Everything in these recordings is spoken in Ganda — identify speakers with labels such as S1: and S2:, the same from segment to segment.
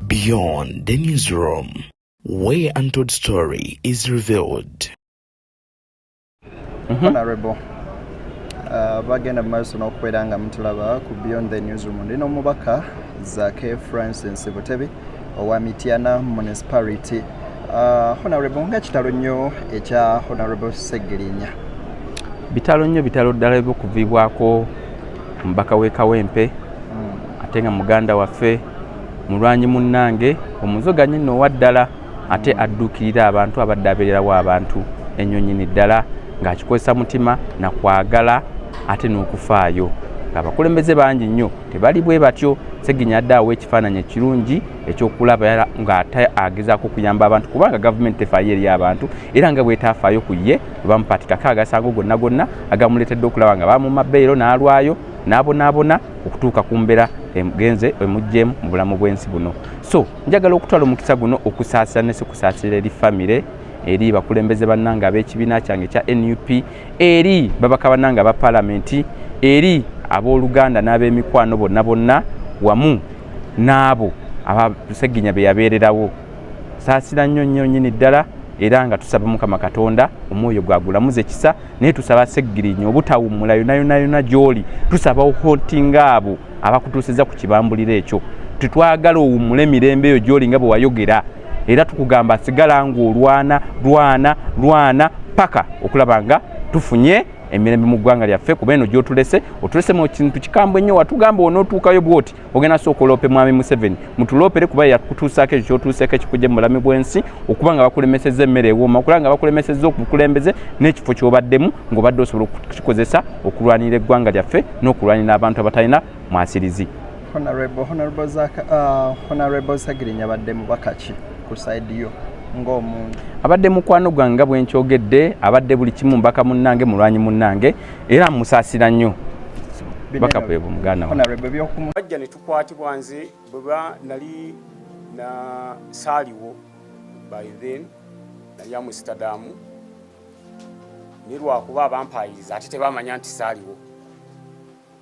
S1: Beyond the newsroom, where untold story is revealed.
S2: Mm-hmm. Honorable. Uh, bagenda mu maaso n'okubeera nga mutulaba ku beyond the newsroom ndi n'omubaka zake francis butebi owa Mityana Municipality uh, Honorable nga kitalo nnyo ekya Honorable Segirinya
S3: bitalo nnyo bitalo ddala ebyokuviibwako omubaka w'e Kawempe hmm. ate nga muganda waffe mulwanyi munnange omuzoganye nno owa ddala ate hmm. adduukirira abantu abadde abeererawo abantu ennyo nnyini ddala ng'akikozesa mutima na kwagala ate n'okufaayo ng'abakulembeze bangi nnyo tebali bwe batyo seginya adde awo ekifaananyi ekirungi ekyokulaba nga ate agezaako okuyamba abantu kubanga gavumenti tefaayo eri abantu era nga bwetafaayo ku ye webamupatikako agasango gonna gonna agamuleetedde okulaba nga bamuma beero n'alwayo n'abonaabona okutuuka ku mbeera emugenze emuggyemu mu bulamu bw'ensi buno so njagala okutwala omukisa guno okusaasira ne sikusaasira eri famire eri bakulembeze bannanga ab'ekibiina kyange ekya nup eri babaka banange aba palamenti eri abooluganda n'ab'emikwano bonna bonna wamu n'abo abaseginya be yabeererawo saasira nnyo nnyo nnyini ddala era nga tusaba mukama katonda omwoyo gwagulamuza ekisa naye tusaba segirinya obutawummula yonayonayona gy'oli tusaba ohotinga abo abakutuusiza ku kibambuliro ekyo tetwagala owummule emirembe eyo gy'oli nga bwe wayogera era tukugamba sigala ng'olwana lwana lwana paka okulaba nga tufunye emirembe mu ggwanga lyaffe kuba eno gyotulese otulese mu kintu kikambwe nnyo watugamba onootuukayo bwoti ogenda sooka oloope mwami museveni mutuloopere kuba yakutuusaako ekyo kyotuuseeko ekikujje mu bulami bw'ensi okuba nga bakulemeseza emmere ewooma okulaba nga bakulemeseza okukulembeze n'ekifo kyobaddemu ng'obadde osobola okukikozesa okulwanira eggwanga lyaffe n'okulwanira abantu abatalina mwasirizi honorable honorable zaka
S2: uh, honorable sagirinya badde mubaka ki ku side yo ng'omuntu abadde mukwano
S3: gwange nga bwenkyogedde abadde buli kimu mbaka munnange mulwanyi munnange era musaasira nnyo baka bwebwe muganda wajja ne
S4: tukwatibwa nze bweba nali na saaliwo by then nali amusitadamu nilwakuba abampayiriza ate tebamanya nti saaliwo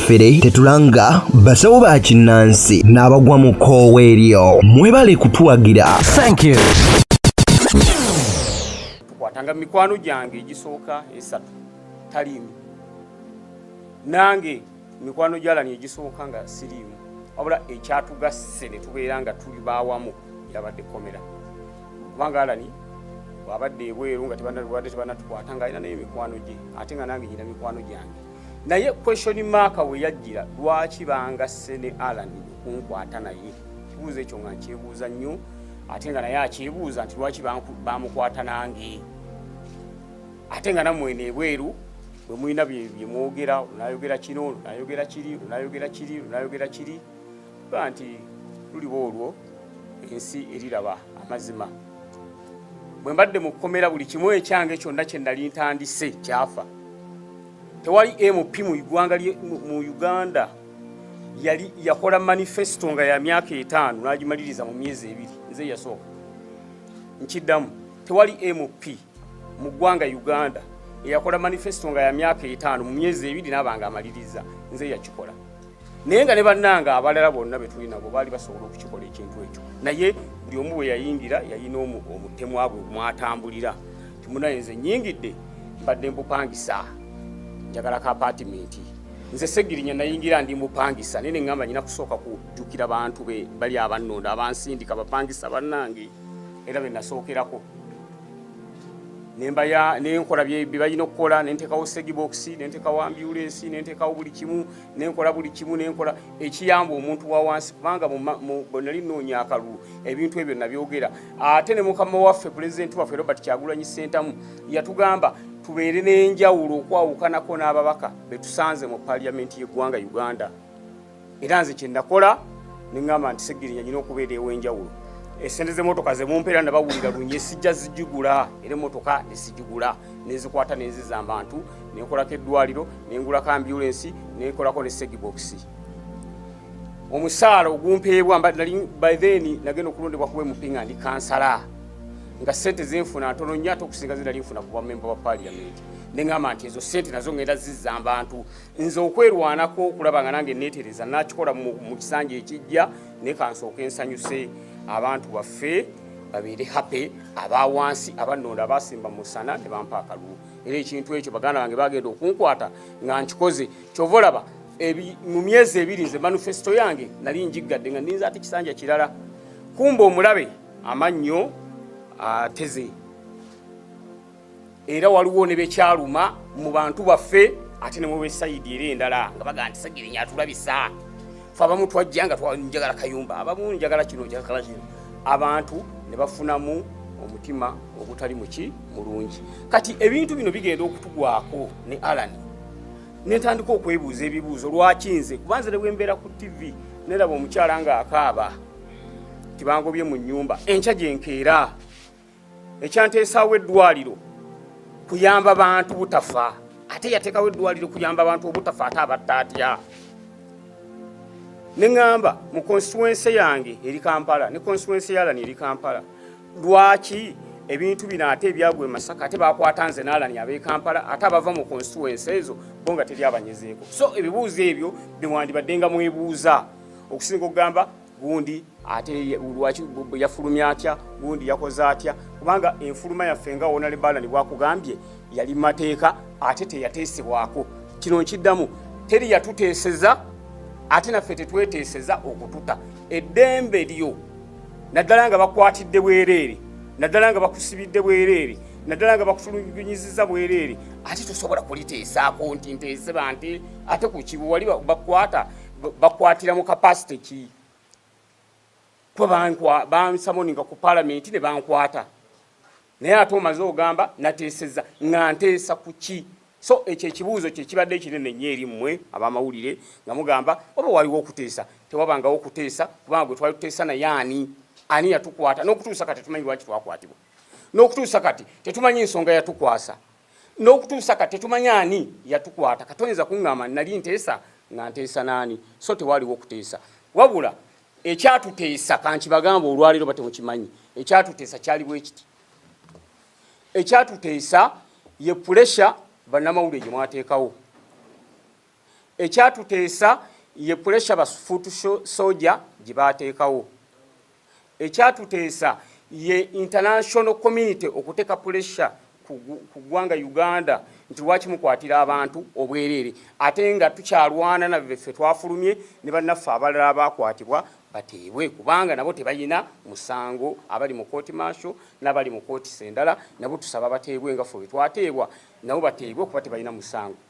S5: fere tetulanga basawo ba kinnansi n'abagwa mu koowa eryo mwebale kutuwagira
S4: tukwatanga mikwano gyange egisooka esatu taliimu nange mikwano gyalani egisooka nga siriimu wabula ekyatugasse ne tubeera nga tuli bawamu yabadde komera kubanga alani bwabadde ebweru nga tebanatukwata nga alina naye mikwano gye ate nga nange nyina mikwano gyange naye question mark we yajjira lwaki banga sene alan kunkwata naye kibuuzo ekyo nga nkyebuuza nnyo ate nga naye akyebuuza nti lwaki bamukwata nange ate nga namwene ebweru bwe mulina byemwogera onayogera kino onayogera kiri onayogera kiri onayogera kiri ba nti luliba olwo ensi eriraba amazima bwe mbadde mu kkomera buli kimu ekyange kyonna kye nali ntandise kyafa tewali mp mu igwanga mu uganda yali yakola manifesto nga ya myaka etaano n'agimaliriza mu myezi ebiri nze yasooka nkiddamu tewali mp mu ggwanga uganda eyakola manifesto nga ya myaka etaano mu myezi ebiri naaba nga amaliriza nze yakikola naye nga ne bannanga abalala bonna betuli nabo baali basobola okukikola ekintu ekyo naye buli omu bwe yayingira yalina omutemwa bwe mwatambulira timunaye nze nyingidde mbadde mbupangisa njagala ka apatimenti nze segirinya nayingira ndi mupangisa naye neŋamba nyina kusooka kujjukira bantu be bali abannonda abansindika bapangisa bannange era be nasookerako nembaya nenkola byebalina okukola nentekawo segibokisi nentekawo ambulensi nentekawo buli kimu nenkola buli kimu nenkola ekiyamba omuntu wawansi kubanga nali noonya akalulu ebintu ebyo nabyogera ate ne mukama waffe pulezidenti waffe robert kyagulanyi sentamu yatugamba tubeere n'enjawulo okwawukanako n'ababaka betusanze mu paliyamenti y'eggwanga uganda era nze kyenakola neŋamba nti segirinya nyina okubeera ewenjawulo esente zemotoka zemumpeera nabawulira lunye sijja zijigula era emotoka nesijigula nezikwata nenziza abantu nenkolako eddwaliro nengulako ambulensi nenkolako ne segibokisi omusaala ogumpeebwa by then nagenda okulondebwa kuba emupinga ndi kansala nga sente zenfuna ntono nyo ate okusinga zinali nfuna ku bamemba ba paliamenti neŋamba nti ezo sente nazo ngenda ziza abantu nze okwerwanako okulaba nga nange netereza nakikola mu kisanja ekijja naye kansooka ensanyuse abantu baffe babeere happy aba wansi abanonda abasimba musana ne bampa akalulu era ekintu ekyo baganda bange bagenda okunkwata nga nkikoze kyova olaba mu myezi ebiri nze manifesito yange nali njiggadde nga ninza ate kisanja kirala kumba omulabe amannyo ateze uh, era waliwo ne bekyaluma mu bantu baffe ate ne mubesayidi era endala nga baga nti sagirinya atulabisa fe abamu twajja nga twanjagala kayumba abamu njagala kino njagala kino abantu ne bafunamu omutima ogutali muki mulungi kati ebintu bino bigenda okutugwako ne alan nentandika okwebuuza ebibuuzo lwaki nze kubanze ne bwembeera ku tv neraba omukyala nga akaaba tibangobye mu nyumba enkya gyenkeera ekyanteesaawo eddwaliro kuyamba bantu butafa ate yateekawo eddwaliro kuyamba abantu obutafa ate abatta atya ne ŋŋamba mu konstituwense yange eri kampala ne konstituwense yalani eri kampala lwaki ebintu bino ate ebyagwa emasaka ate bakwata nze naalani abekampala ate abava mu konstituwense ezo bo nga teri abanyezeeko so ebibuuzo ebyo bewandibadde nga mwebuuza okusinga okugamba gundi ate lwaki yafulumya atya gundi yakoze atya kubanga enfuluma yaffe nga wonale balani bwakugambye yali mateeka ate teyateesebwako kino nkiddamu teri yatuteeseza ate naffe tetweteeseza okututa eddembe lyo naddala nga bakwatidde bwereere naddala nga bakusibidde bwereere naddala nga bakutulugunyiziza bwereere ate tosobola kuliteesaako nti nteese banti ate ku kibu wali bakwata bakwatira mu kapasite ki kwe bansamoninga ku palamenti ne bankwata naye ate omaze ogamba nateeseza nga nteesa ku ki so ekyo ekibuuzo kyekibadde ekinene nnyo eri mmwe abamawulire nga mugamba oba waliwo okuteesa tewabangawo okuteesa kubanga gwe twali tuteesa naye ani ani yatukwata n'okutuusa kati tetumanyi lwaki twakwatibwa n'okutuusa kati tetumanyi nsonga yatukwasa n'okutuusa kati tetumanyi ani yatukwata katoyinza kuŋŋamba nali nteesa nga nteesa n'ani so tewaaliwo okuteesa wabula ekyatuteesa kankibagamba olwaleero batemukimanyi ekyatuteesa kyali bwe kiti ekyatuteesa ye pulesha bannamawulire gye mwateekawo ekyatuteesa ye pulesha ba foot soja gye baateekawo ekyatuteesa ye international community okuteeka pulesha ku ggwanga uganda nti lwaki mukwatira abantu obwereere ate nga tukyalwana nabeffe twafulumye ne bannaffe abalala abaakwatibwa bateebwe kubanga nabo tebalina musango abali mu kooti maasho n'abali mu kooti sendala nabo tusaba bateebwe nga fe bwe twateebwa nabo bateebwe kuba tebalina musango